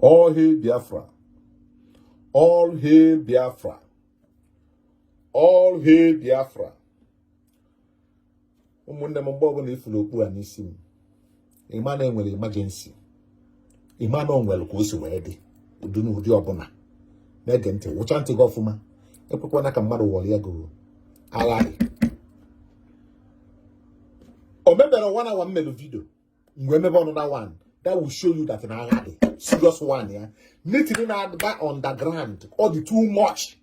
All hail Biafra. All hail Biafra. All hail Biafra. ụmụnne m mgbe ọbụla ifuru okpu a n'isi m ịma na enwere emergency ịma na onwere ka o si wee dị ụdị n'ụdị ọbụla na-ege ntị wụcha ntị gị ọfụma ekwekwana ka mmadụ ghọrịa gị agharị o mebere one hour mmelu video mgbe emebe another one that will show you that na agha dị serious one ya meeting na-agba underground ọ dị too much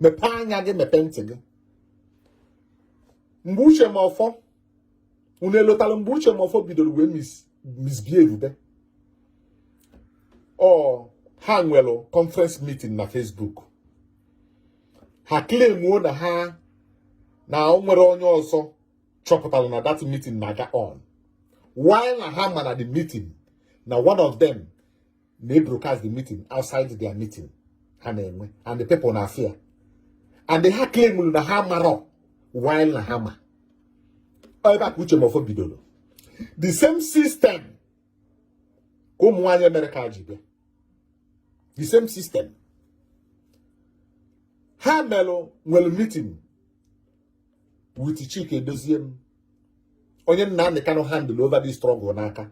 mepee anya gị mepee ntị gị mgbe Uche Mefor unu elotala mgbe Uche Mefor bidoro wee misbehave be ọ ha nwere conference meeting na Facebook ha claimuo na ha na o nwere onye ọzọ chọpụtara na that meeting na-aga on while na ha ma na the meeting na one of them na broadcast the meeting outside their meeting ha na-enwe and the people na fear and ha claim na ha amarọ while na ha ma ebe a ka Uche Mefor bidoro the same system ka ụmụ nwaanyị Amerịka ji bịa the same system ha melụ nwere meeting with Chike Edoziem onye Nnamdi Kanu handle over this struggle n'aka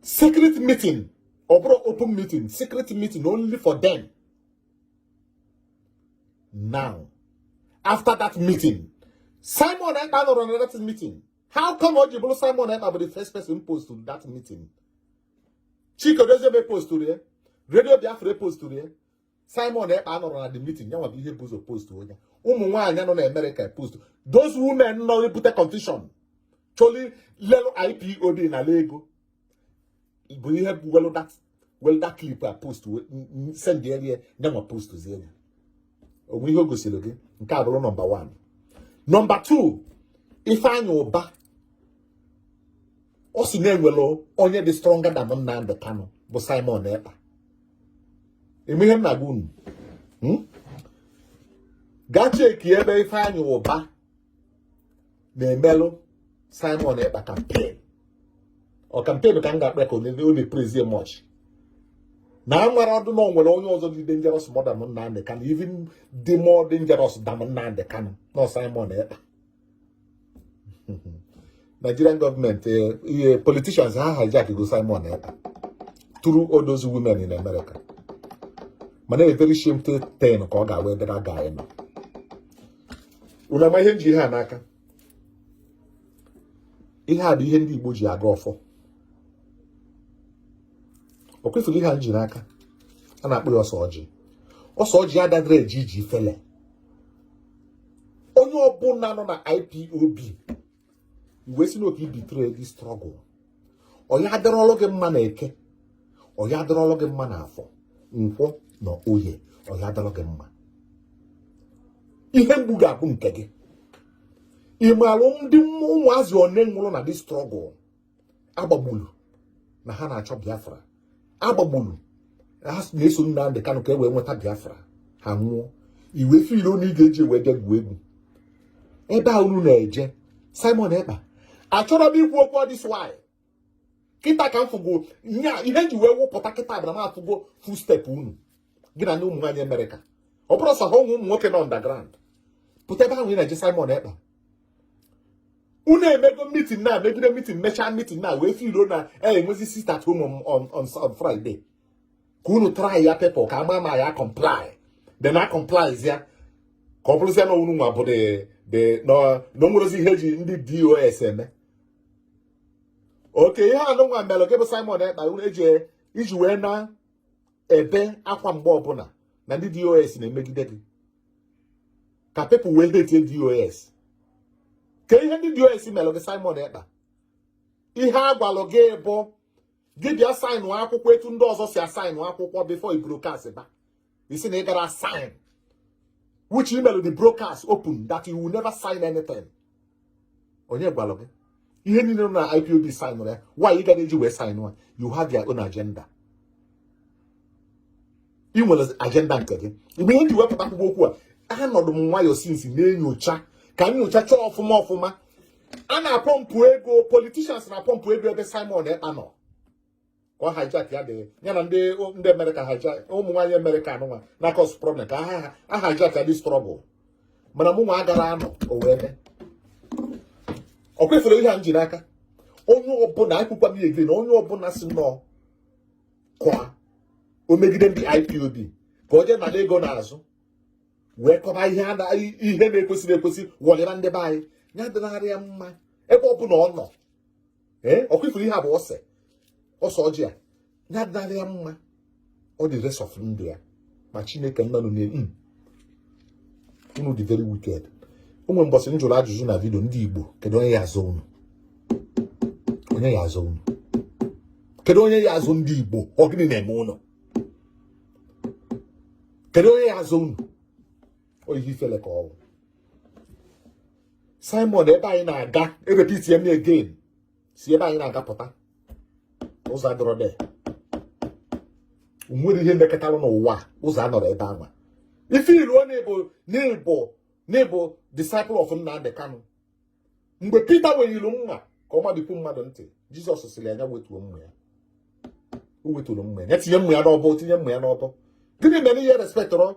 secret meeting ọ bụrọ open meeting secret meeting only for them now after that meeting Simon Ekpa anọrọ na that meeting how come o ji bụrụ Simon Ekpa bụ the first person postụrụ that meeting Chike Edoziem epostụrọ ya Radio Biafra epostụrọ ya Simon Ekpa anọrọ na the meeting ya nwa bụ onye bu ụzọ postụọ ya ụmụ nwaanyị nọ na Amerịka post those women nọ ebute confusion chọlụ ilelu IPOB nalụ ego bụ ihe bụ welu that welu that clip a post sendere ya ya nwa postzie ya o nwe ihe o gosiri gị nke a bụrụ number 1 number 2 Ifeanyi Uba ọ si na e nwere onye dị stronger than Nnamdi Kanu bụ Simon Ekpa ịma ihe m na-agwa unu hmm? gaa cheki ebe Ifeanyi Uba na-emelụ Simon Ekpa campaign ọ campaign ka m ga-akpọ ya ka ọ na-epraise ya much na a nwere ọdụ na onwere onye ọzọ dị dangerous more than Nnamdi Kanu even dị more dangerous than Nnamdi Kanu na ọ Simon Ekpa Nigerian government eh, ihe politicians ha hijack go Simon Ekpa through all those women in America mana a very shameful thing ka ọ ga-abụ ebe that guy nọ unu ama ihe m ji ihe a n'aka ihe a bụ ihe ndị Igbo ji agọ ọfọ ọkwa ị fụlụ ihe a m ji n'aka a na-akpọ ya ose ọjị ose ọjị adadịrị eje ije ifele onye ọbụla nọ na IPOB wee sị n'ọ ka ị betray this struggle ọ ya-adịrọlụ gị mma na eke ọ ya-adịrọlụ gị mma na afọ nkwọ na oye ọ ya-adịrọ gị mma ihe mgbu ga-abụ nke gị ị maalụ ndị ụmụazị one nwụrụ na this struggle a gbagbulu na ha na-achọ Biafra a gbagbulu na ha na-eso Nnamdi Kanu ka e wee nweta Biafra ha nwụọ ị wee feel na ị ga-eji wee bịa gwuo egwu ebe a unu na-eje Simon Ekpa achọrọ m ikwu okwu all this while kịta ka m fụgo nya ihe m ji wee wụpụta kịta bụ na m afụgo footstep unu gị na ndị ụmụ nwaanyị America ọ bụrọ sọ ha ụmụ nwoke nọ underground pụta ebe ahụ ị na-eje Simon Ekpa unu emego meeting na megide meeting mechaa meeting na wee feel na e nwezi sit at home on on Friday ka unu try ya people ka a ma ma ya comply then ha comply zia ka ọ bụrụzie na unu nwa bụ de na o nwerozi ihe e ji ndị DOS eme okay ihe anụnwa mere gị bụ Simon Ekpa unu eji iji wee na ebe akwa mgbe ọbụla na ndị DOS na-emegide gị ka people wee hate DOS kee ihe ndị DOS melụ gị Simon Ekpa ihe a gwalụ gị bụ gị bịa sign akwụkwọ etu ndị ọzọ si asign akwụkwọ before ị broadcast ba ị sị na ị gara sign which ị melụ the broadcast open that you will never sign anything onye gwara gị ihe niile na IPOB signrụ ya why ị gara eji wee sign ya you have your own agenda ị nwere agenda nke gị bụ ihe m ji wee pụta kwuba okwu a anọdụ m nwayọọ since na-enyocha ka m nyocha chọọ ọfụma ọfụma a na-apọmpụ ego politicians na-apọmpụ ego ebe Simon Ekpa nọ ka ọ hijack ya dị ya na ndị ndị America hijack ụmụ nwaanyị America anụnwa na cause problem ka ha ha hijack ya this struggle mana mụ nwa agara anọ o wee mee ọkwa ị fụlụ ihe a m ji n'aka onye ọbụla ekwukwa m again onye ọbụla sị n'ọ ka o megide ndị IPOB ka o jee nala ego n'azụ wee kọba ihe na-ekwesirọ ekwesi wọlịba ndị be anyị ya adịnarị ya mma ebe ọbụla ọ nọ ee ọkwa ị fụrụ ihe a bụ ose ọsọ ọjị a na-adịnarị ya mma ọ dị rest of ndụ ya ma chineke nna nụ n'elu hmm. unu dị very wicked o nwe mbọsị m jụrụ ajụjụ na video ndị Igbo kedu onye ya-azọ unu onye ya-azọ unu kedu onye ya-azọ ndị Igbo ọ gịnị na-eme unu kedu onye ya-azọ unu ọ ihe ifele ka ọ wụ Simon ebe anyị na-aga erepeatịe m again si ebe anyị na-aga pụta ụzọ adọrọ de nwere ihe mekọtara n'ụwa ụzọ anọrọ ebe anwa ị failụọ na-ebo n'ịbụ n'ịbụ disciple of Nnamdi Kanu mgbe Pita wenyere mma ka ọ mabipụ mmadụ ntị Jizọs sịrị ya wetuo mma ya o weturu mma ya tinye mma ya n'ọbọ tinye mma ya n'ọbọ gịnị mere ị respectịrọ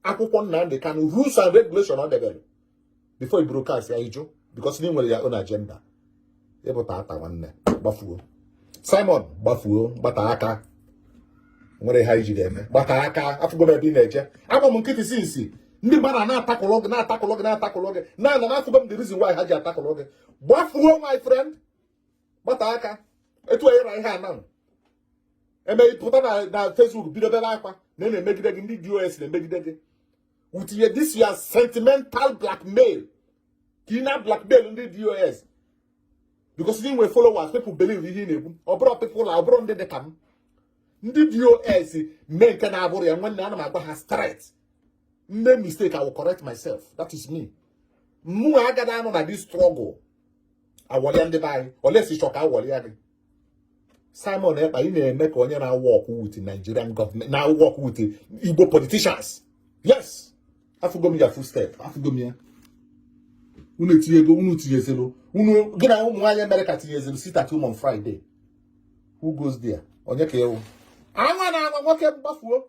akwụkwọ Nnamdi Kanu rules and regulation ọ debere before i broadcast ya ị jụ because na ị nwere your own agenda ị bụ tata nwanne gbafuo Simon gbafuo gbata aka nwere ha iji ga-eme gbata aka afụgo m ebe ị na-eje agba m nkịtị since ndị mmadụ a na-atackle gị na-atackle gị na-atackle gị na-ana na afụgo m the reason why ha ji atackle gị gbafuo my friend gbata aka etu a yara ihe a na-eme pụta na na Facebook bido bebe akwa na a na-emegide gị ndị DOS na-emegide gị with your this your sentimental blackmail ka ị na blackmail ndị DOS because na ị nwere followers people believe ihe ị na-ekwu ọ bụrụ people na ọ bụrụ ndị dị ka m ndị DOS mee nke na-abụrọ ya nwanne ana m agwa ha straight m mee mistake I will correct myself that is me mụ agaghị anọ na this struggle awọlịa ndị be anyị unless ị chọ ka awọlịa gị Simon Ekpa ị na-eme ka onye na-awork with Nigerian government na-awork with Igbo politicians yes afụgo m your footstep afụgo m ya unu etinyego unu tinyezelu unu gị na ụmụ nwaanyị America tinyezelu sit at home on Friday who goes there onye ka ị wụ anwana anwa nwoke m gbafuo